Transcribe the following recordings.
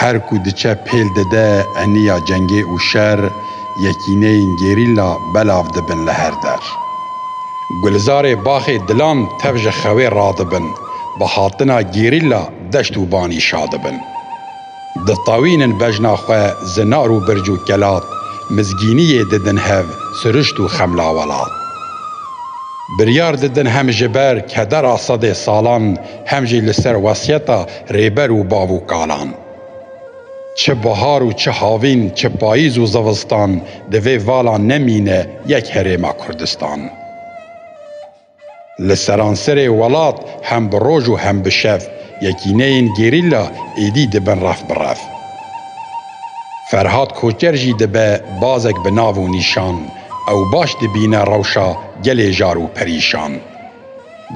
Her ku diçe pêl dide eniya cengê û şer, yekîneyên gerîlla belav dibin li her der. Gulizarê baxê dilan tev ji xewê radibin, bi hatina gerîlla deşt û banî şadibin. Ditewînin bejna xwe zinar û birc û kelat, mizgîniyê didin hev sirişt û xemla welat. Biryar didin hem ji ber kedera sedê salan hem jî li ser wesiyeta Rêber û bav û kalan. Çi bihar û çi havîn, çi payîz û zivistan divê vala nemîne yek herêma Kurdistan. Li seranserê welat hem bi roj û hem bi şev yekîneyên gerîla êdî dibin ref bi ref. Ferhad Koçer jî dibe bazek bi nav û nîşan, ew baş dibîne rewşa gelê jar û perîşan.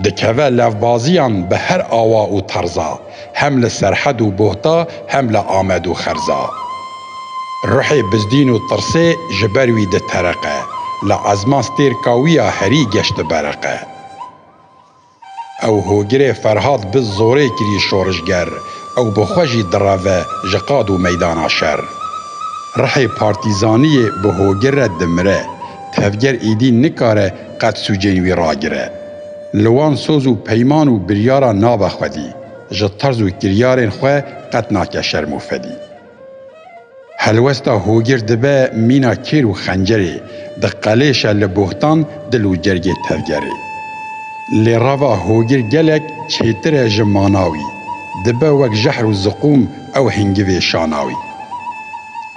Dikeve levbaziyan bi her awa û terza, hem li Serhed û Buhta hem li Amed û Xerza. Ruhê bizdîn û tirsê ji ber wî ditereqe, li ezma stêrka wî ya herî geş dibereqe. Ew hogirê Ferhad bi zorê kirî şorişger, ew bi xwe jî direve ji qad û meydana şer. Ruhê partîzaniyê bi hogir re dimire, tevger îdî nikare Qet sûcên wî ragire. Li wan soz û peyman û biryaran nabe xwedî, ji terz û kiryarên xwe qet nake şerm û fedî. Helwesta hogir dibe mîna kêr û xencerê, diqelêşe li bohtan dil û cergê tevgerê. Lê reva hogir gelek çêtir e ji mana wî, dibe wek jehr û ziqûm ew hingivê şana wî.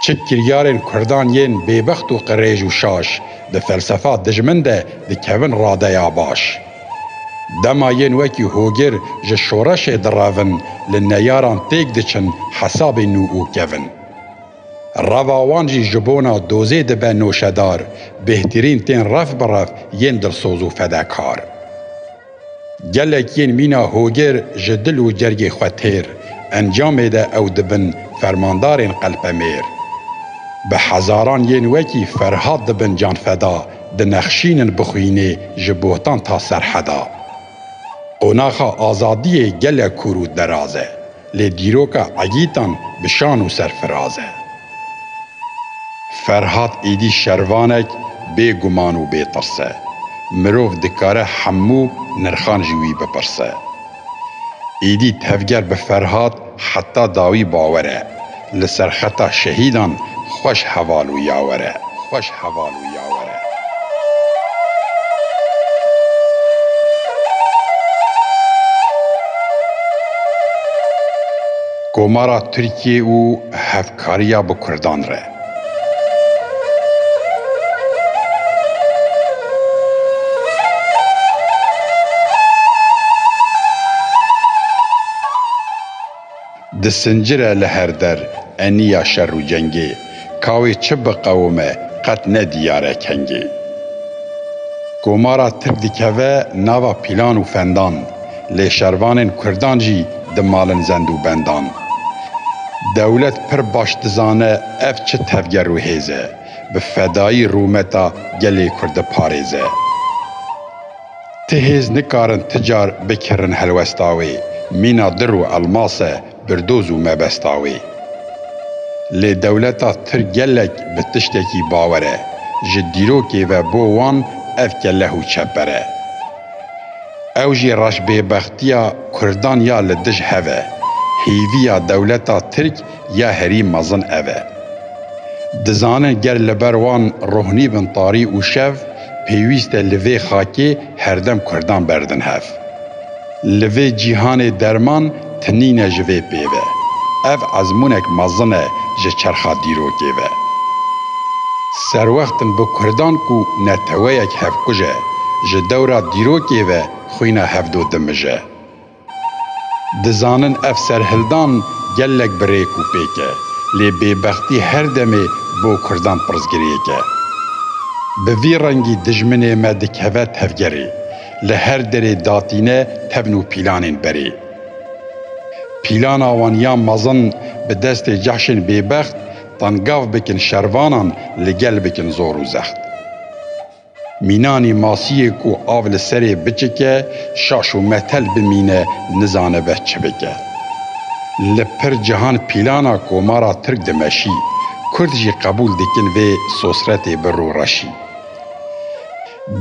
Çi kiryarên kurdan yên bêbext û qirêj û şaş, Di felsefa dijmin de dikevin radeya baş. Dema yên wekî hogir ji şoreşê direvin li neyaran têk diçin hesabê nû û kevin. Reva wan jî ji bona dozê dibe noşedar, bêhtirîn tên rev bi rev yên dilsoz û fedekar. Gelek yên mîna hogêr ji dil û cergê xwe têr, encamê de ew dibin fermandarên qelpemêr. Bi hezaran yên wekî Ferhat dibin canfeda, dinexşînin bi xwînê ji botan ta serheda. Qonaxa azadiyê gelek kûr û deraz e. Lê dîroka Egîtan bi şan û serfiraz e. Ferhat êdî şervanek bê guman û bê tirs e. Mirov dikare hemû nirxan ji wî bipirse. Êdî tevger bi Ferhat heta dawî bawer e. Li ser xeta şehîdan xweş heval û yawere. Xweş heval û yawere. Komara Tirkiyê û hevkariya bi Kurdan re. Di sincire li her der eniya şer û cengê, ka wê çi biqewime qet ne diyare kengê. Komara Tirk dikeve nava pîlan û fendan, lê şervanên Kurdan jî dimalin zend û bendan. Dewlet pir baş dizane ev çi tevger û hêz e, bi fedayî rûmeta gelê Kurd diparêze. Ti hêz nikarin ti car bikirin helwesta wê, mîna dir û elmas e, birdoz û mebesta wê. Lê dewleta tir gelek bi tiştekî bawer e, ji dîrokê ve bo wan ev keleh û çeper e. Ew jî reşbêbextiya kurdan ya li dij hev e. Hêviya dewleta tirk ya herî mezin ev e. Dizanin ger li ber wan rohnî bin tarî û şev, pêwîst e li vê xakê herdem kurdan berdin hev. Li vê cîhanê derman tinîn e ji vê pê ve. Ev ezmûnek mezin e ji çerxa dîrokê ve. Serwextin bi kurdan ku neteweyek hevkuj e, ji dewra dîrokê ve xwîna hevdo dimije. Dizanin ev serhildan gelek bi rêk û pêk e, lê bêbextî her demê bo kurdan pirsgirêk e. Bi vî rengî dijminê me dikeve tevgerê, li her derê datîne tevn û pîlanên berê. Pîlana wan ya mezin bi destê cehşên bêbext, tengav bikin şervanan li gel bikin zor û zext. Mînanî masiyê ku av li serê biçike şaş û metel bimîne nizanibe çi bike. Li pir cihan pîlana komara tirk dimeşî, kurd jî qebûl dikin vê sosretê bi rûreşî.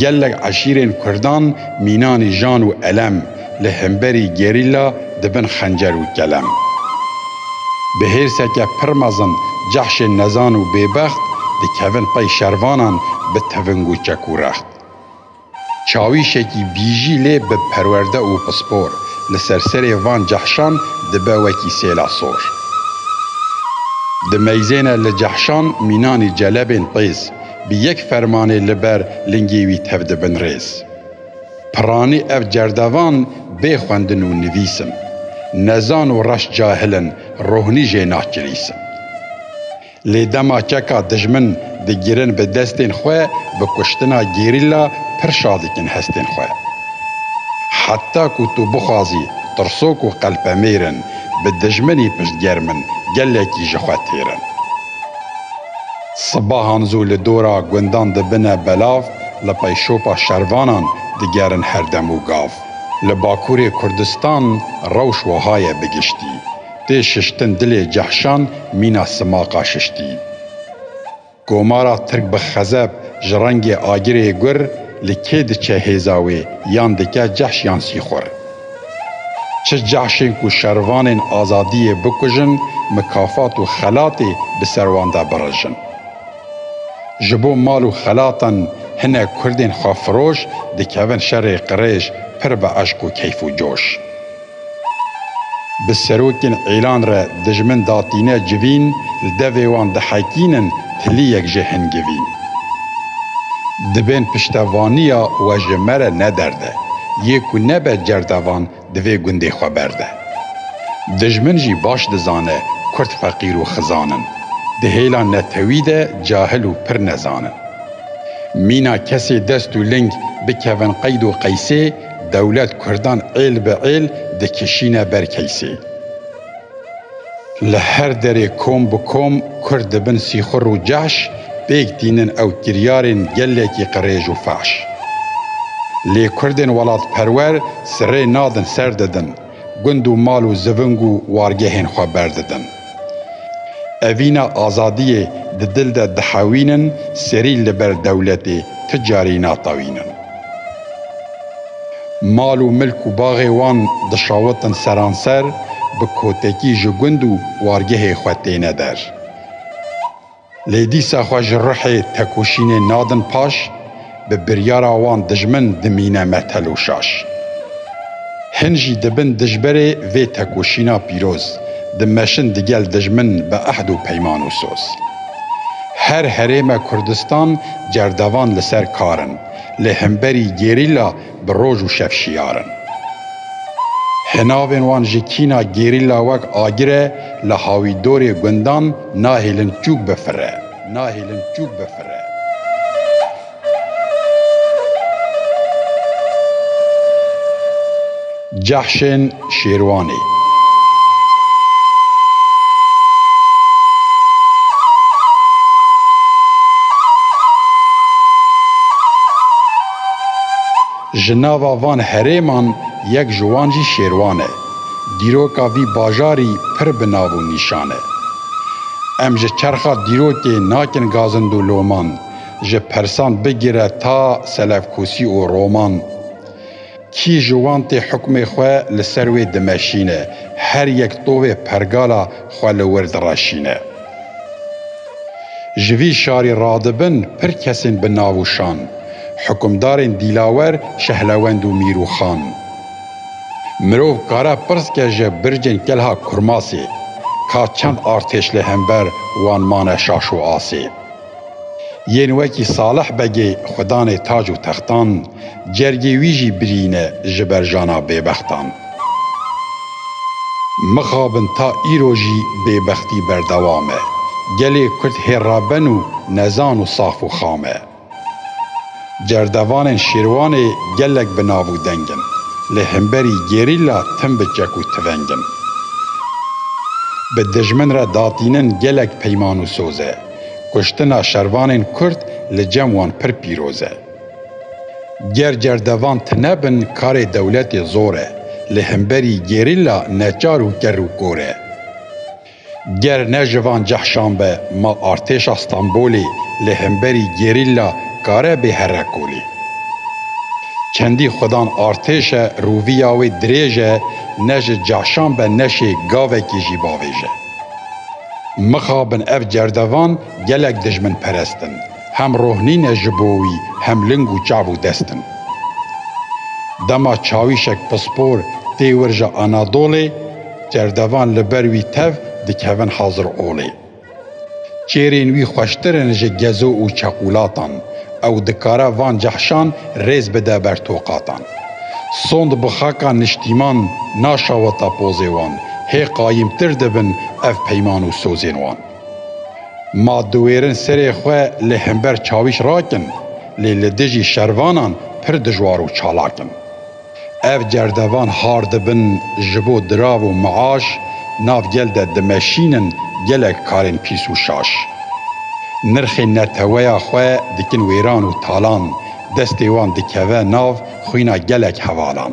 Gelek eşîrên kurdan mînanî jan û elem, li hemberî gerîla dibin xencer û kelem. Bi hêrseke pir mezin cehşên nezan û bêbext dikevin pey şervanan bi teving û çek û rext. Çawîşekî bîjî lê bi perwerde û pispor li ser serê van cehşan dibe wekî sêla sor. Dimeyzêne li cehşan mînanî celebên pêz, bi yek fermanê li ber lingê wî tev dibin rêz. Piranî ev cerdevan bê xwendin û nivîsim. Nezan û reş cahil in, rohnî jê nakirîsim. Lê dema keka dijmin digirin bi destên xwe, bi kuştina gerîla pir şa dikin hestên xwe. Heta ku tu bixwazî, tirsok û qelpemêr in, bi dijminî piştgerm in, gelekî ji xwe têr in. Sibahan zû li dora gundan dibine belav, li peyşopa şervanan digerin her dem û gav. Li Bakurê Kurdistan rewş weha ye bi giştî. Tê şiştin dilê cehşan mîna simaqa şiştî. Komara Tirk bi xezeb ji rengê agirê gur li kê diçe hêza wê yan dike cehş yan sîxur. Çi cehşên ku şervanên azadiyê bikujin, mikafat û xelatê bi ser wan de birijin. Ji bo mal û xelatan hinek kurdên xwefiroş dikevin şerê qirêj pir bi eşq û keyf û coş. Bi serokên îlan re dijmin datîne civîn, li devê wan dihekînin, Tiliyek jê hingivî dibên piştevaniya we ji me re nederde, yê ku nebe cerdevan divê gundê xwe berde. Dijmin jî baş dizane kurd feqîr û xizan in, di hêla netewî de cahil û pir nezan in. Mîna kesê dest û ling bikevin qeyd û qeysê, dewlet kurdan êl bi êl dikişîne ber keysê. Li her derê kom bi kom Kurd dibin sîxur û caş, pêk tînin ew kiryarên gelekî qirêj û faş. Lê Kurdên welatperwer sirê nadin ser didin, gund û mal û ziving û wargehên xwe berdidin. Evîna azadiyê di dil de dihewînin, serî li ber dewletê ti carî natewînin. Mal û milk û baxê wan dişawitin seranser, bi kotekî ji gund û wargehê xwe têne der. Lê dîsa xwe ji ruhê tekoşînê nadin paş, bi biryara wan dijmin dimîne me teloşaş. Hin jî dibin dijberê vê tekoşîna pîroz, dimeşin digel dijmin bi ehd û peyman û soz. Her herême Kurdistan cerdevan li ser kar in. Lê hemberî gerîla bi roj û şev şiyar in. Hinavên wan ji kîna gerîla wek agire li hawîdorê gundan nahêlin çûk bifire, nahêlin çûk bifire. Cehşên. Şêrwanê. Ji nava van herêman yek ji wan jî Şêrwan e. Dîroka vî bajarî pir bi nav û nîşan e. Em ji çerxa dîrokê nakin gazind û loman, ji persan bigire ta selevkûsî û roman, Kî ji wan tê hukmê xwe li ser wê dimeşîne, her yek tovê pergala xwe li wir direşîne. Ji vî şarî radibin pir kesên bi nav û şan, hukmdarên Dîlawer, Şehlewend û Mîr û Xan. Mirov kare pirs ke ji bircên Kelha Kurmasê, ka çend artêş li hember wan mane şaş û asê? Yên wekî Salih Begê xwe danê tac û textan, cergê wî jî birîne ji ber jana bêbextan. Mixabin ta îro jî bêbextî berdewam e. Gelê Kurd hêrraben û nezan û saf û xam e. Cerdevanên Şêrwanê gelek bi nav û deng in. Lê himberî gerîla tim bi çek û tiveng in. Bi dijmin re datînin gelek peyman û soz e. Kuştina şervanên Kurd li cem wan pir pîroz e. Ger cerdevan tine bin karê dewletê zor e, li hemberî gerîla neçar û kerr û kor e. Ger ne ji van cehşan be ma artêşa Stenbolê li hemberî gerîla kare bê herre kolê. Çendî xudan artêş e rûviya wê dirêj e ne ji cehşan be neşê gavekê jî bavêje. Mixabin ev cerdevan gelek dijminperest in. Hem roh nîne ji bo wî hem ling û çav û dest in. Dema çawîşek pispor tê wir ji Anadolê, cerdevan li ber wî tev dikevin hazir olê. Çêrên wî xweştir in ji gezo û çeqûlatan. Ew dikare van cehşan rêz bide ber toqatan. Sond bi xaka niştîman naşaweta pozê wan, hê qayîmtir dibin ev peyman û sozên wan. Ma diwêrin serê xwe li hember çawîş rakin, lê li dijî şervanan pir dijwar û çalak in. Ev cerdevan har dibin ji bo dirav û miaş, nav gel de dimeşînin gelek karên pîs û şaş. Nirxê neteweya xwe dikin wêran û talan, Destê wan dikeve nav xwîna gelek hevalan.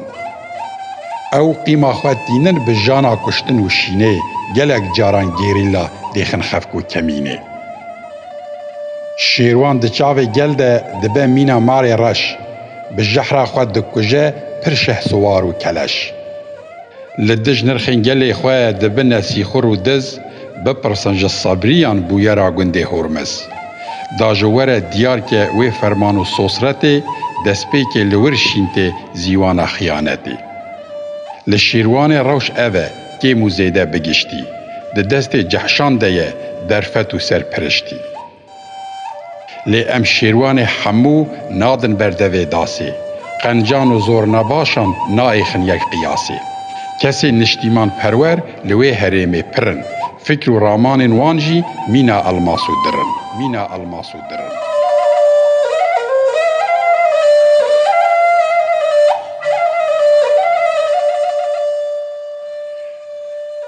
Ew qîma xwe tînin bi jana kuştin û şînê, gelek caran gerîlla dêxin xev ku kemînê. Şêrwan di çavê gel de dibe mîna marê reş, bi jehra xwe dikuje pir şehsiwar û keleş. li dij nirxên gelê xwe dibine sîxur û diz, bipirsin ji Sabriyan bûyera gundê Hormiz. Da ji were diyar ke wê ferman û sosretê destpêkê li wir şîn tê zîwana xiyanetê. Li Şîrwanê rewş ev e, kêm û zêde bi giştî, di destê Cehşan de ye, derfet û serpiriştî. Lê em şêrwanê hemû nadin ber devê dasê. Qencan û zorinabaşan naêxin yek qiyasê. Kesên niştîmanperwer li wê herêmê pir in. Fikr û ramanên wan jî mîna elmas û dir in. Mîna elmas û dir in.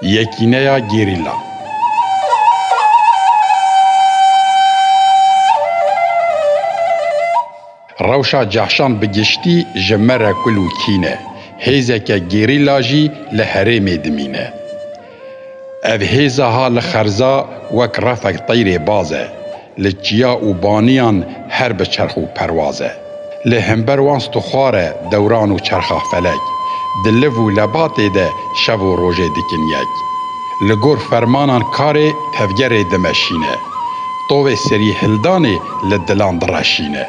Yekîneya Gerîla. Rewşa cehşan bi giştî ji me re kul û kîn e, hêzeke gerîla jî li herêmê dimîne. Ev hêza ha li xerza wek refek teyrê baz e, Li çiya û baniyan her bi çerx û perwaz e. Lê hember wan stixwar e dewran û çerxa felek. Di liv û lebatê de şev û rojê dikin yek. Li gor fermanan karê tevgerê dimeşîne. Tovê serîhildanê li dilan direşîne.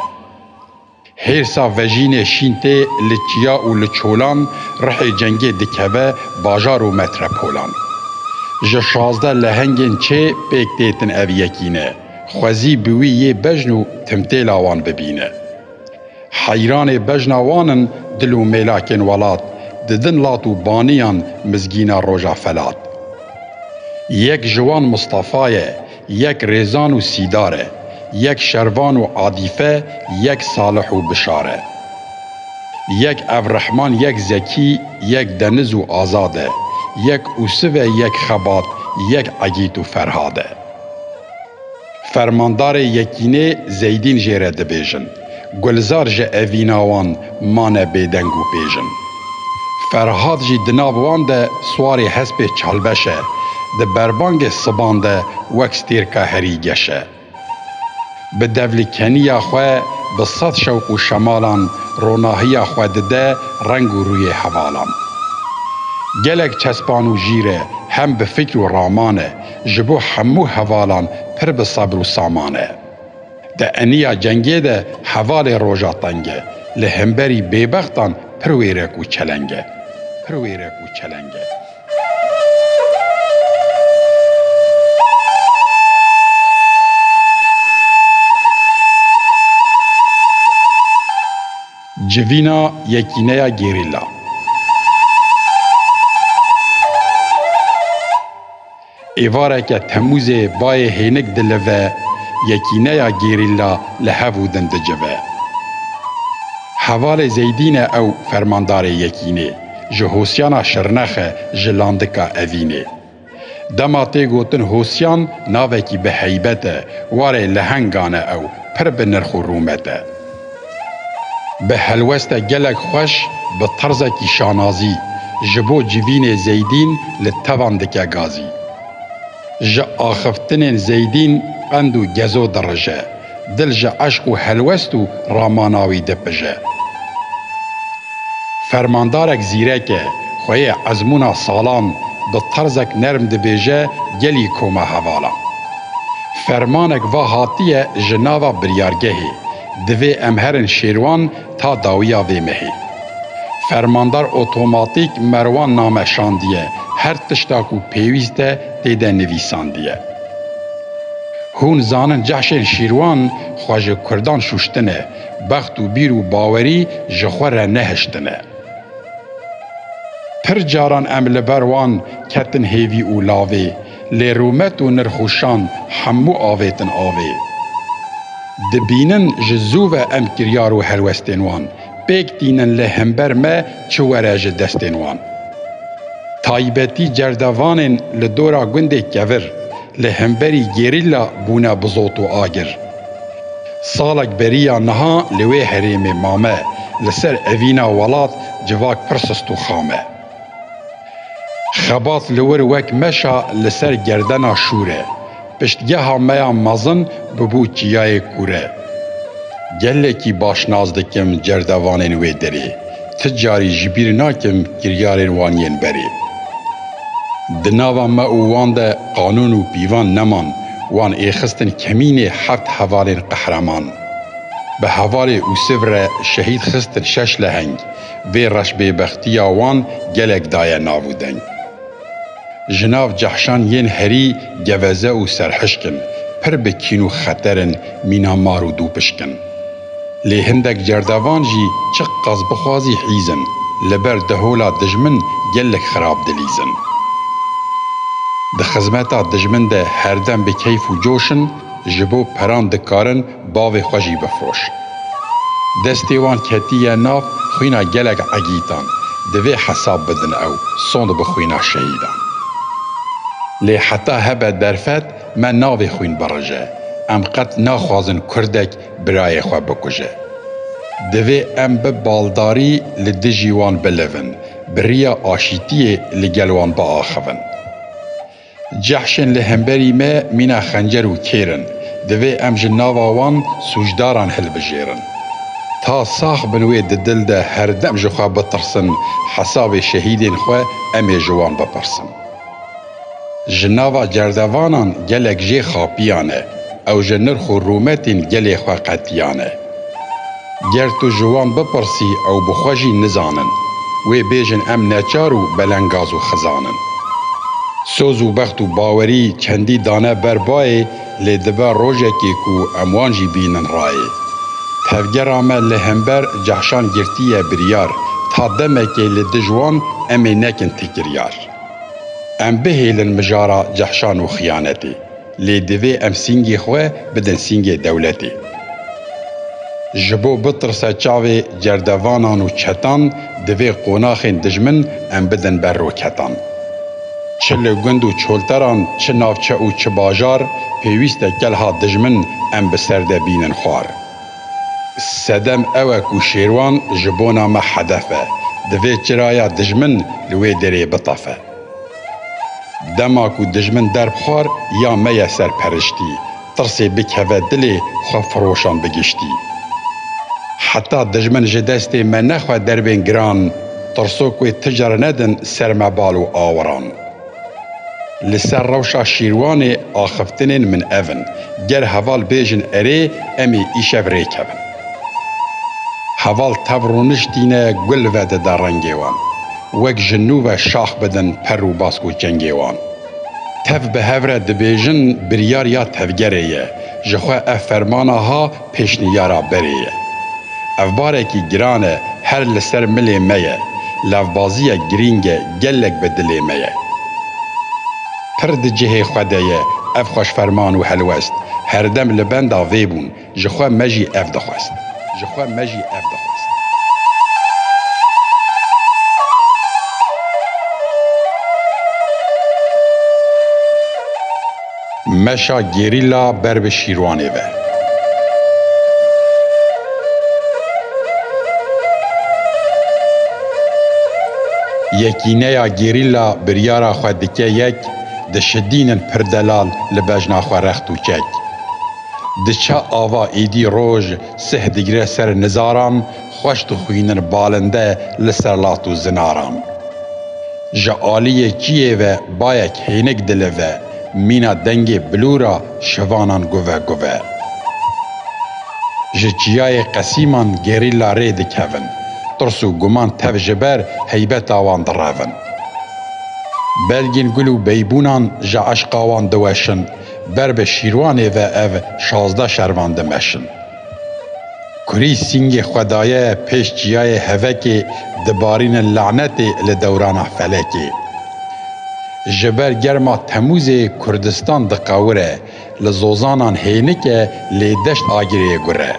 Hêrsa vejînê şîn tê li çiya û li çolan, rihê cengê dikeve bajar û metrepolan. Ji şazdeh lehengên çê pêk têtin ev yekîne, xwezî bi wî yê bejn û timtêla wan bibîne. Heyranê bejna wan in dil û mêlakên welat, didin lat û baniyan mizgîna roja felat. Yek ji wan Mistefa ye, Yek rêzan û sîdar e. Yek şervan û adîfe yek salih û bişar e. Yek evrehman yek zekî yek deniz û azad e. Yek ûsiv e yek xebat yek egît û ferhad e. Fermandarê yekînê zeydîn jê re dibêjin. Gulzar ji evîna wan mane bêdeng û pêjin. Ferhat jî di nav wan de swarê hespê çalbeş e, di berbangê siban de wek stêrka herî geş e. Bi devlikeniya xwe bi sed şewq û şemalan ronahiya xwe dide reng û rûyê hevalan. Gelek çespan û jîr e, hem bi fikr û raman e, ji bo hemû hevalan pir bi sebr û saman e. Di eniya cengê de hevalê roja teng e, li hemberî bêbextan pir wêrek û çeleng e. Pir wêrek û çeleng e. Civîna yekîneya gerîla. Êvareke Temûzê bayê hênik dilive, yekîneya gerîla li hev û din dicive. Hevalê Zeydîn e ew fermandarê yekînê, ji Hosyana Şirnex e ji Landika Evînê. Dema tê gotin Hosyan navekî bi heybet e, warê lehengan e ew, pir bi nirx û rûmet e. Bi helweste gelek xweş, bi terzekî şanazî ji bo civînê Zeydîn li tevan dike gazî. Ji axiftinên Zeydîn qend û gezo dirije, dil ji eşq û helwest û ramana wî dipije. Fermandarek zîrek e, xwe yê ezmûna salan bi terzek nerm dibêje gelî koma hevalan. Fermanek va hatiye ji nava biryargehê, Divê em herin şêrwan ta dawiya vê mehê. Fermandar otomatîk Merwan name şandiye, her tişta ku pêwîst e tê de nivîsandiye. Hûn zanin cehşên şîrwan xwe ji kurdan şûştine, bext û bîr û bawerî ji xwe re nehiştine. Pir caran em li ber wan ketin hêvî û lavê. Lê rûmet û nirxûşan hemû avêtin avê. Dibînin ji zû ve em kiryar û helwestên wan pêk tînin lê hember me çi were ji destên wan. Taybetî cerdevanên li dora gundê Kevir li hemberî gerîla bûne bi zot û agir. Salek beriya niha li wê herêmê mame li ser evîna welat civak pir sist û xam e. Xebat li wir wek meşa li ser gerdena şûr e. Piştgeha me ya mezin bûbû çiyayê kûre. Gelekî baş nas dikim cerdevanên wê derê. Ti carî ji bîr nakim kiryarên wan yên berê. Di nava me û wan de qanûn û pîvan neman. Wan ê xistin kemînê heft hevalên qehreman. Bi hevalê Usif re şehîd xistin şeş leheng. Vê reşbêbextiya wan gelek daye nav û deng. Ji nav cehşan yên herî geveze û serhişk in, pir bi kîn û xeter in mîna mar û dûpişk in. Lê hindek cerdevan jî çi qas bixwazî hîz in, li ber dehola dijmin gelek xirab dilîz in. Di xizmeta dijmin de herdem bi keyf û coş in, ji bo peran dikarin, bavê xwe jî bifiroş. Destê wan ketiye nav xwîna gelek egîtan, divê hesab bidin ew sond bi xwîna şehîdan. Lê heta hebe derfet me navê xwîn birije, em qet naxwazin kurdek birayê xwe bikuje. Divê em bi baldarî li dijî wan bilivin, bi riya aşîtiyê li gel wan biaxivin. Cehşên li hemberî me mîna xencer û kêr in, divê em ji nava wan sûcdaran hilbijêrin. Ta sax bin wê di dil de herdem ji xwe bitirsin, hesabê şehîdên xwe em ê ji wan bipirsin. Ji nava cerdevanan gelek jê xapiyane, ew ji nirx û rûmetên gelê xwe qetiyane. Ger tu ji wan bipirsî ew bi xwe jî nizanin. Wê bêjin em neçar û belengaz û xizan in. Soz û bext û bawerî çendî dane ber bayê lê dibe rojekê ku em wan jî bînin rayê. Tevgera me li hember cehşan girtiye biryar ta demekê li dij wan em ê nekin tikiryar. Em bihêlin mijara cehşan û xiyanetê. Lê divê em sîngê xwe bidin sîngê dewletê. Ji bo bitirse çavê cerdevanan û çetan divê qonaxên dijmin em bidin ber roketan. Çi li gund û çolteran çi navçe û çi bajar pêwîst e kelha dijmin em bi ser de bînin xwar. Sedem ew e ku Şêrwan ji bona me hedef e. Divê çiraya dijmin li wê derê bitefe. Dema ku dijmin derxwar ya me ye ser periştî, tirsê bikeve dilê xwe firoşan bi giştî. Heta dijmin ji destê me nexwe derbên giran, tirsok wê ti car nedin ser me bal û awiran. Li ser rewşa Şîrwanê axiftinên min ev in, ger heval bêjin erê em ê îşev rêkevin. Heval tev rûnişt tîne gul vedide rengê wan. Wek ji nû ve şax bidin per û bask û çengê wan. Tev bi hev re dibêjin biryar ya tevgerê ye, ji xwe ev fermana ha pêşniyara berê ye. Ev barekî giran e her li ser milê me ye, levbaziyek girîng e gelek bi dilê me ye. Pir di cihê xwe de ye ev xweşferman û helwest, herdem li benda vê bûn, Ji xwe me jî ev dixwest. Ji xwe me jî ev dixwest. Meşa gerîla ber bi Şîrwanê ve. Yekîneya gerîla biryara xwe dike yek, dişidînin pir delal li bejna xwe rext û çek. Diçe ava êdî roj sih digire ser nizaran xweş dixwînin balinde li ser lat û zinaran. Ji aliyê çiyê ve bayek hênik dilive, mîna dengê bilûra şivanan guve guve. Ji çiyayê qesîman gerîla rê dikevin, tirs û guman tev ji ber heybeta wan direvin. Belgên gul û beybûnan ji eşqa wan diweşin, Ber bi Şîrwanê ve ev şazdeh şervan dimeşin. Kurî sîngê xwe daye pêş çiyayê hevekê dibarînin lanetê li dewrana felekê. Ji ber germa Temûzê Kurdistan diqewire, li zozanan hênike lê deşt agirê ye gure.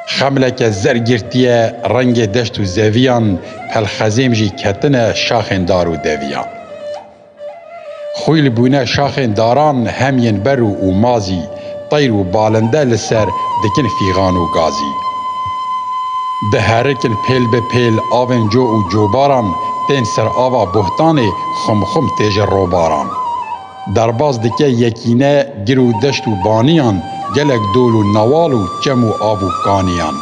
Xemleke zer girtiye rengê deşt û zeviyan, pelxezêm jî ketine şaxên dar û deviyan. Xwîl bûne şaxên daran hem yên berû û mazî teyr û balinde li ser dikin fîxan û gazî. Diherikin pêl bi pêl avên co û cobaran tên ser ava bohtanê xumxum tê ji robaran. Derbas dike yekîne gir û deşt û baniyan gelek dol û newal û çem û av û kaniyan.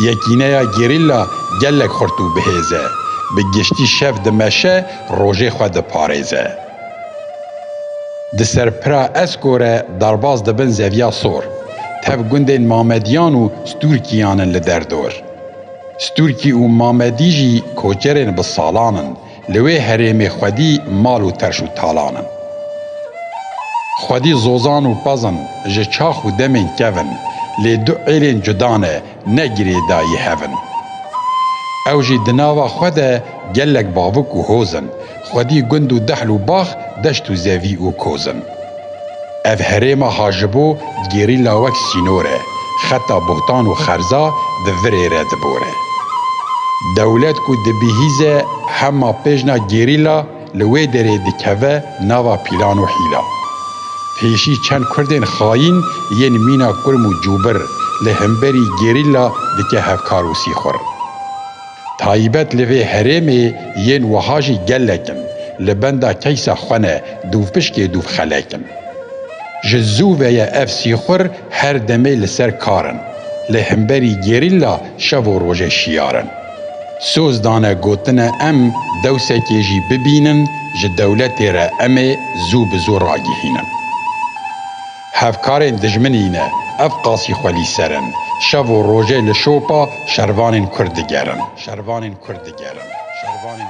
Yekîneya gerîlla gelek xurt û bihêz e. Bi giştî şev dimeşe Rojê xwe diparêze. Di ser pira Esko re derbas dibin zeviya sor. Tev gundên Mamediyan û Stûrkiyan in li derdor. Stûrkî û Mamedî jî koçerên bi salan in, li wê herêmê xwedî mal û terş û talan in. Xwedî zozan û pez in, ji çax û demên kev in, lê du êlên cuda ne, ne girêdayî hev in. Ew jî di nava xwe de gelek bavik û hoz in, xwedî gund û dehl û bax, deşt û zevî û koz in. Ev herêma ha ji bo gerîla wek sînor e, xeta bohtan û xerza di virê re dibore. Dewlet ku dibihîze hema pêjna gerîla, Li wê derê dikeve nava pîlan û hîla. Pêşî çend kurdên xayîn yên mîna kurm û cûbir li hemberî gerîla dike hevkar û sîxur. Taybet li vê herêmê yên wiha jî gelek in, li benda keysa xwe ne dûvpişkê dûvxelek in. Ji zû ve ye ev sîxur her demê li ser kar in. Li hemberî gerîla şev û rojê şiyar in. Soz dane gotine em dewsekê jî bibînin ji dewletê re em ê zû bi zû ragihînin. Hevkarên dijminî ne, ev qasî xwe lî ser in, şev û rojê li şopa şervanên Kurd digerin.